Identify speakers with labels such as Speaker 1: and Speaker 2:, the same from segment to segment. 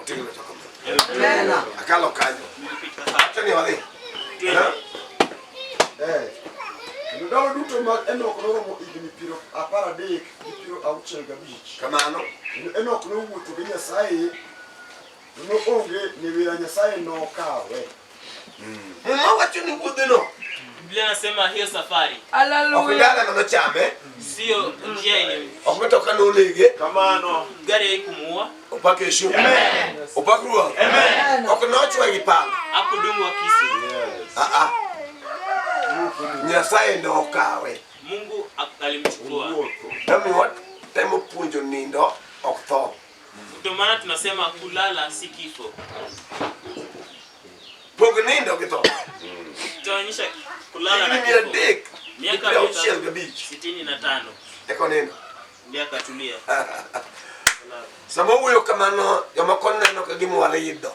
Speaker 1: Otegno toka mbele.
Speaker 2: Akalo kanyo. Acha ni wadhi. Eh. Ndalo duto ma Enok noromo higni piero apar adek gi piero auchiel gabich. Kamano.
Speaker 1: Enok nowuotho
Speaker 2: gi Nyasaye, noonge ni wira Nyasaye nokawe. Muma
Speaker 1: wacho ni wuodheno Biblia inasema
Speaker 3: hiyo safari ok Hallelujah. dalano
Speaker 2: nochame,
Speaker 1: sio njia
Speaker 3: yenye ok mitoka nonege,
Speaker 1: Kamano. gari
Speaker 2: haikumuua,
Speaker 3: opak Yesu,
Speaker 1: opak
Speaker 2: Ruoth,
Speaker 1: ok
Speaker 2: nochwe gi pala.
Speaker 1: hakudungwa kisu.
Speaker 3: Ah, ah.
Speaker 1: Nyasaye ne okawe. Mungu ak-
Speaker 3: alimchukua. Omi
Speaker 1: watemo puonjo nindo ok tho. Ndio maana
Speaker 3: tunasema kulala si kifo.
Speaker 1: Pog nindo gi tho. Tunaonyesha
Speaker 3: kulala na kifo. Dek.
Speaker 1: Miaka
Speaker 3: auchiel gabich. Sitini na tano. Eko
Speaker 1: nindo. Miaka tulia. Sama wuyo kamano jomoko neno ka gima wale yido.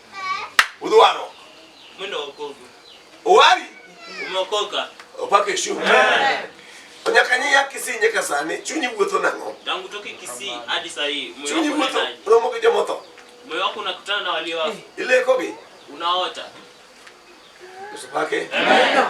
Speaker 1: Udwaro. Mimi
Speaker 3: naokoka. Uwari?
Speaker 1: Umeokoka.
Speaker 3: Upake shu.
Speaker 1: Eh. Onyaka nyi ya Kisii nyaka sani chunyi wuotho nang'o? Tangu toke Kisii
Speaker 3: hadi saa hii. Chunyi wuotho romo
Speaker 1: gi jomotho. Moyo wako unakutana
Speaker 3: na walio wafu. Ile kobi.
Speaker 1: Unaota.
Speaker 3: Usipake.
Speaker 1: Amen.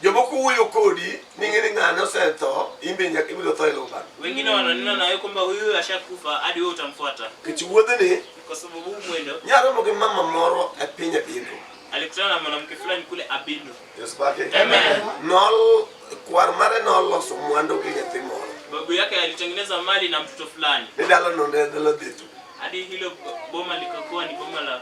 Speaker 3: Jomoko
Speaker 1: wuoyo kodi ning'e ni ng'ane osetho, in be nyaka ibiro tho e lubano. Wengine wananena nawe
Speaker 3: kwamba huyu ashakufa hadi wewe utamfuata. Nikech wuodhni
Speaker 1: Kwa sababu huu mwendo
Speaker 3: nyaromo gi mama
Speaker 1: moro e piny Abindu. alikutana na mwanamke
Speaker 3: fulani kule Abindo. Yesu pake. Amen.
Speaker 1: Nol kwar mare noloso mwandu gi nyathi moro. Babu yake alitengeneza
Speaker 3: mali na mtoto fulani Ni dala no ne dala
Speaker 1: dhitu. hadi hilo
Speaker 3: boma likakuwa ni boma la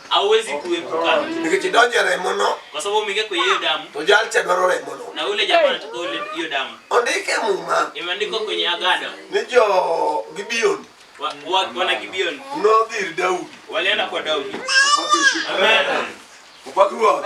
Speaker 1: hauwezi kuepuka
Speaker 3: Nikech idonjo e remono,
Speaker 1: kwa sababu umeingia kwenye hiyo
Speaker 3: damu to jal cha dwaro remono.
Speaker 1: na ule jamaa anataka
Speaker 3: ule hiyo damu Ondike Muma
Speaker 1: imeandikwa kwenye agano
Speaker 3: ni jo
Speaker 1: Gibeon wa, wa, wana
Speaker 3: Gibeon nodhi ir Daudi.
Speaker 1: walienda kwa
Speaker 3: Daudi Opaki
Speaker 1: Ruoth.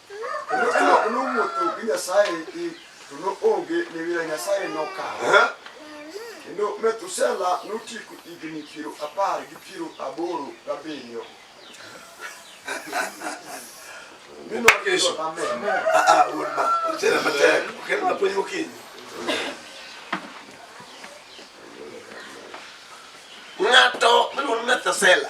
Speaker 2: nomuotho gi nyasaye to noonge ne wira nyasaye nokawo kendo methusela notieko higni piero apar gi piero aboro gabiriyo
Speaker 1: Kesho. Ah, ah, urma. Tena mateka. Kena maponyi mukinyi. Ng'ato miluongo ni Methusela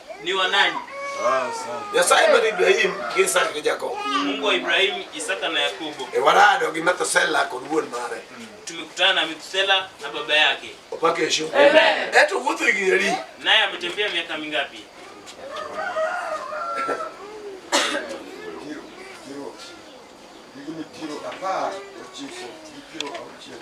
Speaker 1: ni wa nani?
Speaker 3: Nyasaye
Speaker 1: mar Ibrahim gi Isaka gi Jakobo. Mungu wa Ibrahim,
Speaker 3: Isaka na Yakobo. E warado gi
Speaker 1: Methusela kod wuon mare. Tumekutana na
Speaker 3: Methusela na baba yake. Opake heshima. Amen.
Speaker 1: Eto
Speaker 3: wuotho higni adi?
Speaker 1: Naye ametembea
Speaker 3: miaka mingapi? Higni piero
Speaker 2: apar ochiko gi piero auchiel.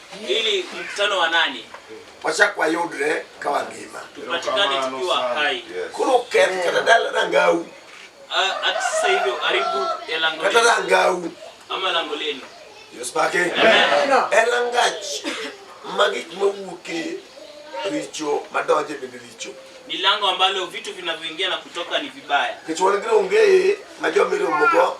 Speaker 1: ili mkutano
Speaker 3: wa nani wachak wayudre
Speaker 1: ka wangima tupatikane tukiwa
Speaker 3: hai koro keth
Speaker 1: kata dala rangau hata
Speaker 3: sasa hivyo karibu ya lango kata rangau
Speaker 1: ama lango lenu
Speaker 3: yospake
Speaker 1: e rangach ma gik mawuoke richo madonje bende richo ni lango ambalo
Speaker 3: vitu vinavyoingia na kutoka ni vibaya kichwalgire ongeye
Speaker 1: ma jomiromogo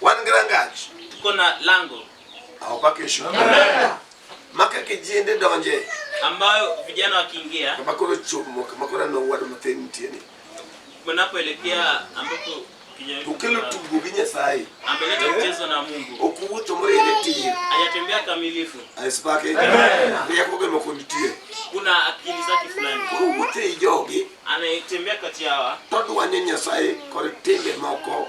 Speaker 1: Wan gi rangach. Tuko na
Speaker 3: lango. Au kwa kesho.
Speaker 1: Maka kijende donje. Ambayo vijana
Speaker 3: wakiingia. Kama kuna chomo, kama
Speaker 1: kuna na wadu mateni tieni. Mnapoelekea
Speaker 3: ambapo Ukelo tugo gi
Speaker 1: Nyasaye. Ameleta mchezo na
Speaker 3: Mungu. Okuwuotho moyene tiyo.
Speaker 1: Hajatembea kamilifu.
Speaker 3: Asipake.
Speaker 1: Amen. Yako gemo kunitie. Kuna akili
Speaker 3: zake fulani. Okuwuotho e jogi.
Speaker 1: Anatembea kati
Speaker 3: yawa. Todwanye Nyasaye
Speaker 1: kod timbe moko.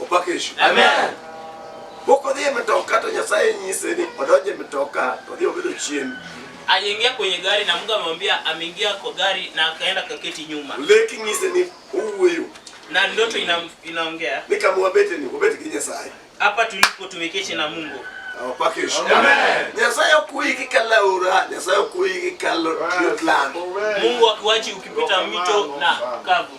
Speaker 1: Opak Yesu. Amen.
Speaker 3: Mok
Speaker 1: odhi e mtoka to Nyasaye nyise ni odonj e mtoka to odhi obedo chien. Aliingia kwenye
Speaker 3: gari na Mungu amemwambia ameingia kwa gari na akaenda kaketi nyuma. Leki nyise ni
Speaker 1: uwuoyo. Na ndoto ina,
Speaker 3: inaongea. Ni kama wabete ni
Speaker 1: wabete ki Nyasaye. Hapa tulipo
Speaker 3: tumeketi na Mungu. Opak Yesu. Amen.
Speaker 1: Nyasaye okuyi gi kalaura, Nyasaye okuyi gi kalo yot lando. Mungu
Speaker 3: akuachi ukipita mito na kavu.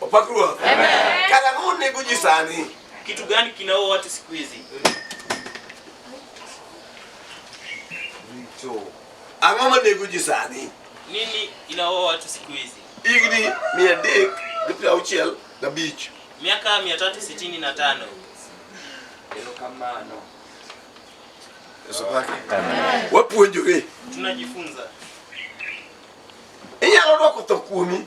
Speaker 3: Opak
Speaker 1: Ruoth. Amen. Kara ang'o nego ji sani? Kitu gani kinaua
Speaker 3: watu siku hizi? Richo.
Speaker 1: Ang'o ma nego ji sani? Nini
Speaker 3: inaua watu siku hizi? Higni mia
Speaker 1: adek gi piero auchiel gabich. Miaka 365.
Speaker 3: Erokamano.
Speaker 1: Yesu pake. Amen. Wapuonjore. Tunajifunza. Inyalo dwoko tho kuomi.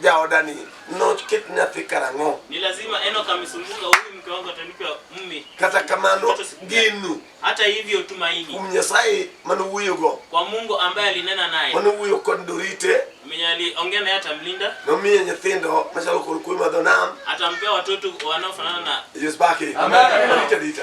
Speaker 1: jaoda ni noket nyathi karang'o Ni lazima Enoch
Speaker 3: amesumbuka huyu mke wangu atanipa mume. kata kamano
Speaker 1: geno Hata hivyo
Speaker 3: tumaini kuom nyasaye
Speaker 1: manowuoyogo kwa Mungu ambaye
Speaker 3: alinena naye. manowuoyo kod dorite
Speaker 1: Mwenye aliongea
Speaker 3: naye atamlinda, nomiye nyithindo
Speaker 1: machalo kod kuoyo madho nam atampea watoto
Speaker 3: wanaofanana na yosbake Amen.
Speaker 1: dorite dita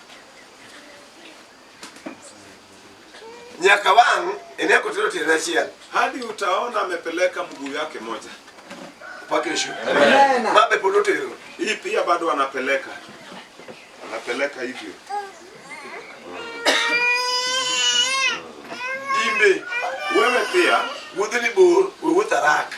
Speaker 1: nyaka wang' ene kotero tiende achiel hadi utaona
Speaker 4: amepeleka mguu yake moja mpaka kesho.
Speaker 1: Mabe pod otero. Hii pia bado
Speaker 4: anapeleka, anapeleka hivyo imbe.
Speaker 1: Wewe pia wuodheni bor,
Speaker 4: we
Speaker 1: wuoth haraka.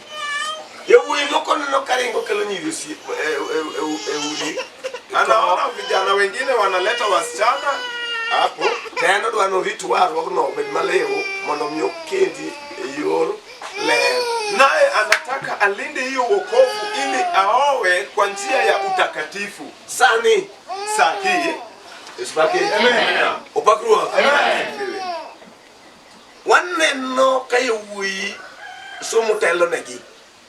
Speaker 1: Yawuoyi moko neno ka ringo kelo nyiri osi- e- e- e- e udi. Anaona
Speaker 4: vijana wengine wanaleta wasichana hapo tena dwa
Speaker 1: norit warruogno obed maliw mondo mi okendi e yor ler. naye
Speaker 4: anataka alinde hiyo wokovu ili aowe kwa njia ya utakatifu Sani
Speaker 1: sahihi
Speaker 4: Yesu baki.
Speaker 1: Amen. Opak Ruoth. Amen. waneno ka yawuoyi somo telonegi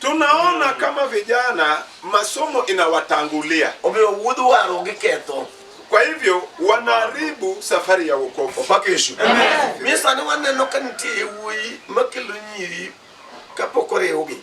Speaker 1: tunaona
Speaker 4: kama vijana masomo inawatangulia omiyo wuodh
Speaker 1: waro giketho kwa hivyo
Speaker 4: wanaharibu safari ya wokovu opake yesu
Speaker 1: miyo sani waneno ka nitie yawuoyi makelo nyiri kapok oriwgi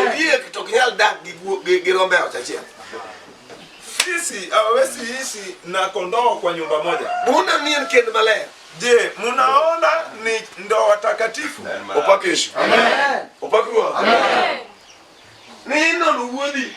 Speaker 1: Ondiek to ok nyal dak gi guo- gi gi rombe ot achiel.
Speaker 4: Sisi hawawezi ishi na kondoo kwa nyumba moja. Buna ni en kend
Speaker 1: maler. Je, mnaona
Speaker 4: ni ndoa takatifu? Opak Yesu.
Speaker 1: Opak Ruoth. Ni inono wuodi.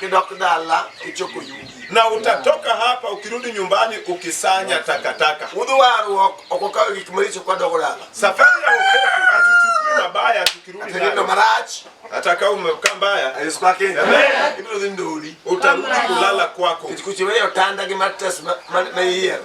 Speaker 4: kidok dala kichoko yugi, na utatoka hapa ukirudi nyumbani ukisanya takataka. Udhi warruok ok okawo gik maricho kwa dogo dala. Safari ya wokovu hatuchukui mabaya tukirudi Atendo nayo, marach hata kama umekaa mbaya Yesu kwake Amen. ibiro dhi ndoli utarudi kulala kwako. kech kuchiweyo otanda gi matres ma- ma- ma iyiero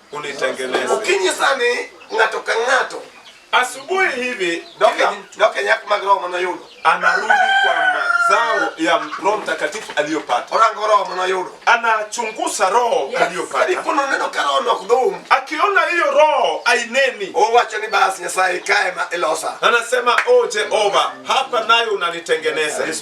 Speaker 1: unitengeneze.
Speaker 4: Okinyi sani
Speaker 1: ng'ato ka ng'ato asubuhi
Speaker 4: hivi doke nyak
Speaker 1: mag roho manoyudo anarudi kwa
Speaker 4: mazao ya Roho Mtakatifu aliyopata. Orango roho manoyudo,
Speaker 1: anachunguza
Speaker 4: roho yes, aliyopata. Ikono neno ka roho
Speaker 1: nok dhum, akiona hiyo
Speaker 4: roho aineni. Owacho ni bas
Speaker 1: Nyasaye kae ma ilosa, anasema o oh,
Speaker 4: Jehova, hapa nayo unanitengeneza. Yes,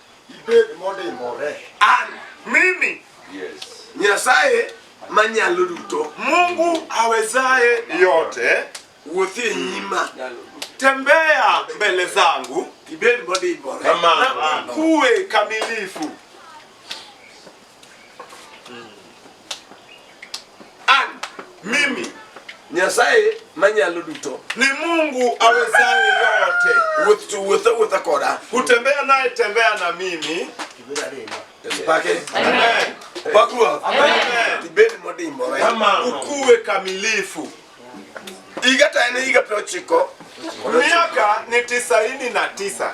Speaker 2: ibed modimbore. An mimi
Speaker 4: yes.
Speaker 3: Nyasaye
Speaker 1: manyalo duto, Mungu
Speaker 4: awezaye yote, wuothi e
Speaker 1: nyima, tembea
Speaker 4: mbele zangu, ibed modimbore
Speaker 1: na ukue
Speaker 4: kamilifu. An, mimi
Speaker 1: Nyasaye manyalo duto, ni Mungu
Speaker 4: awezaye yote, wuoth to wuotha wuotha koda.
Speaker 1: kutembea naye
Speaker 4: tembea na mimi. Yesu
Speaker 1: pake. Amen.
Speaker 4: Opak Ruoth.
Speaker 1: Amen. Ibed
Speaker 4: modimbore.
Speaker 1: Ukuwe
Speaker 4: kamilifu.
Speaker 1: Higa to en higa piero ochiko. Miaka
Speaker 4: ni tisaini na tisa.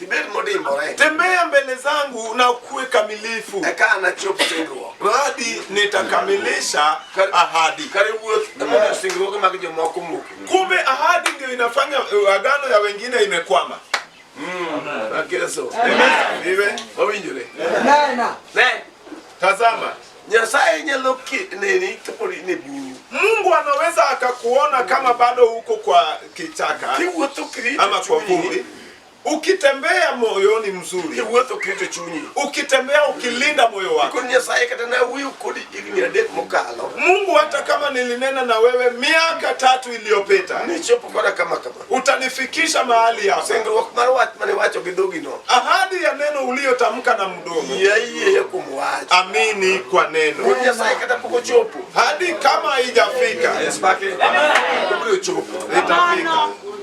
Speaker 4: Ibed modimbore. Tembea mbele zangu na ukuwe kamilifu. Eka anachop singruok. Hadi nitakamilisha ahadi. Kare wuoth emomiyo singruoge mag jomoko muko. Kumbe ahadi ndio inafanya eh, agano ya wengine imekwama. Mm. Tazama. Nyasaye nyalo nini kapo ni bunyu. Mungu anaweza akakuona kama bado uko kwa kichaka ama kwa vumbi Ukitembea moyoni mzuri, iwuotho keto chunyi. Ukitembea ukilinda moyo wako. Ikoni Nyasaye kata na wuyo kodi higni adek mokalo. Mungu hata kama nilinena na wewe miaka tatu iliyopita. Nichopo kona kama kama. Utanifikisha mahali hapa. Singruok mar wach mane wacho gi dhogi no. Ahadi ya neno uliyotamka na mdomo. Yeye ya kumwacha. Amini kwa neno. Kwa Nyasaye kata poko chopo. Hadi kama haijafika. Yes, baki. Amen. Itafika.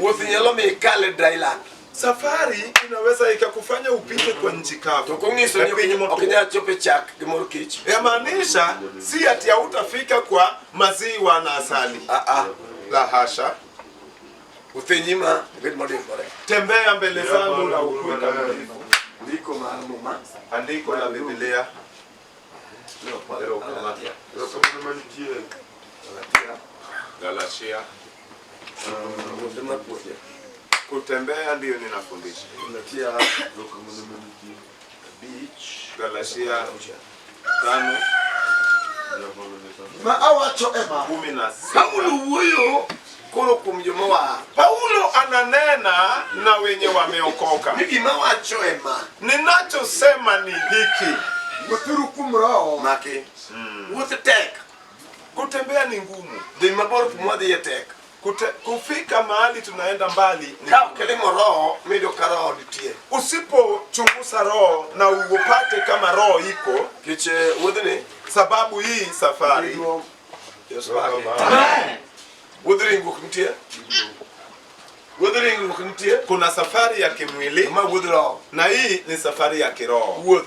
Speaker 4: Wuoth nyalo mi ikal e dry land. Safari inaweza ikakufanya upite kwa nchi kavu. To kung'iso ni Lakini ok moto- inyal chopo e chak gi mor kich. Yamaanisha si ati hautafika kwa maziwa na asali. Ah ah. La hasha. Wuoth e nyima ibed modimbore. Tembea mbele zangu na ukue kamilifu. Ndiko mar Muma. Andiko la Biblia. Galatia. Kutembea ndiyo ninafundisha. Galatia Galatia tano ma awacho ema kumi na sita. Paulo wuoyo koro kuom joma wa Paulo ananena na wenye wameokoka. Ni gima wacho ema ninachosema ni hiki, wuothuru kuom roho make mm. wuoth tek Kutembea ni ngumu, dhi mabor kuma dhiye tek. Kute, kufika mahali tunaenda mbali ni Ka ok ilimo roho, mido ka roho nitie. usipochunguza roho na uupate kama roho iko, Kech eh, wuodhni, sababu hii safari Yesu wake. Wuodh ringruok nitie. Wuodh ringruok nitie. kuna safari ya kimwili Ma wuodh roho. na hii ni safari ya kiroho. Wuoth.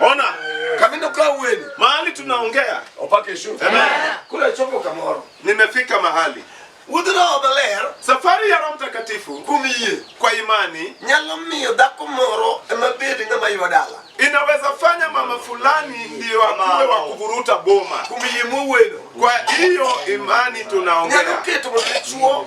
Speaker 4: Ona kamino kwa uweni mahali tunaongea opake shu kule chopo kamoro nimefika mahali Udhno obeler safari ya Roho Mtakatifu kumiye kwa imani nyalo miyo dhako moro ema bed ng'ama ywa dala inaweza fanya mama fulani ndiyo akuwe wa kuvuruta boma kumiye muweno kwa hiyo imani tunaongea nyalo keto mchechuo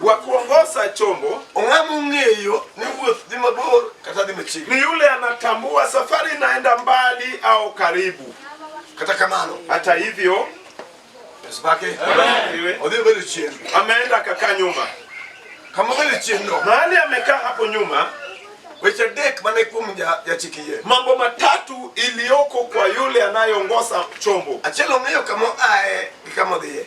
Speaker 4: wa kuongoza chombo ong'ama ong'eyo ni wuoth dhi mabor kata dhi machiegni ni yule anatambua safari inaenda mbali au karibu kata kamano hata hivyo yesu make Iwe. odhi obedo chien ameenda akakaa nyuma kama obedo chien no mahali amekaa hapo nyuma weche adek mane kuom ja- jachik yie mambo matatu iliyoko kwa yule anayeongoza chombo achiel ong'eyo kama oaye gi kama odhiye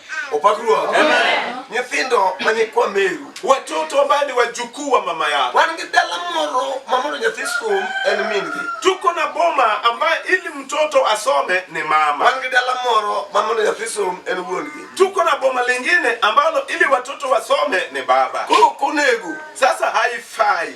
Speaker 4: Opak Ruoth. Amen. Nyithindo ma nyikwa Meru. Watoto ambao ni wajukuu wa mama yao. Wan gi dala moro ma mondo nyathi som en mingi. Tuko na boma ambaye ili mtoto asome ni mama. Wan gi dala moro ma mondo nyathi som en wuongi. Tuko na boma lingine ambalo ili watoto wasome ni baba. Koro konego. Sasa haifai.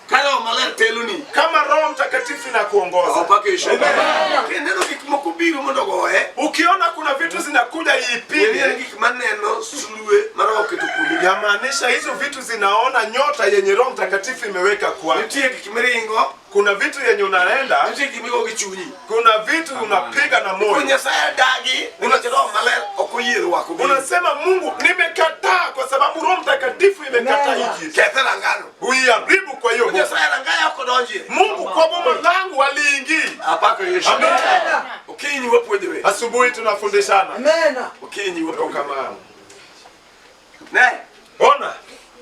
Speaker 4: Ka Roho Maler
Speaker 1: teloni. Kama Roho Mtakatifu
Speaker 4: inakuongoza. Awapakishe.
Speaker 1: Neno gik moko biro mondo goye. Ukiona kuna vitu zinakuja ipige. Gik maneno sulue mara oketo kuomi. Yamaanisha hizo vitu
Speaker 4: zinaona nyota yenye Roho Mtakatifu imeweka kwa. Nitie gik miringo.
Speaker 1: Kuna vitu yenye
Speaker 4: unaenda. Nitie gik migo gichunyi.
Speaker 1: Kuna vitu
Speaker 4: unapiga na moyo. Kuna Nyasaye dagi.
Speaker 1: Kuna Roho Maler okoyie wako. Unasema Mungu
Speaker 4: nimekataa kwa sababu Roho Mtakatifu imekataa hiki. Kethera ngano.
Speaker 1: uiharibu. Kwa hiyo Mungu kwa boma
Speaker 4: langu waliingi
Speaker 1: asubuhi,
Speaker 4: tunafundishana
Speaker 1: ona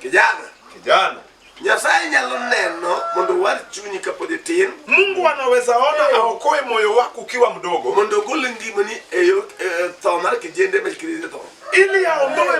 Speaker 4: kijana kijana Nyasaye
Speaker 1: nyalo neno mondo owar chunyi kapod itin. Mungu anaweza
Speaker 4: ona aokoe moyo wako ukiwa mdogo, mondo ogol
Speaker 1: ngimani e,
Speaker 4: e
Speaker 1: tho mar
Speaker 4: kijende
Speaker 1: ma tho ili aondoe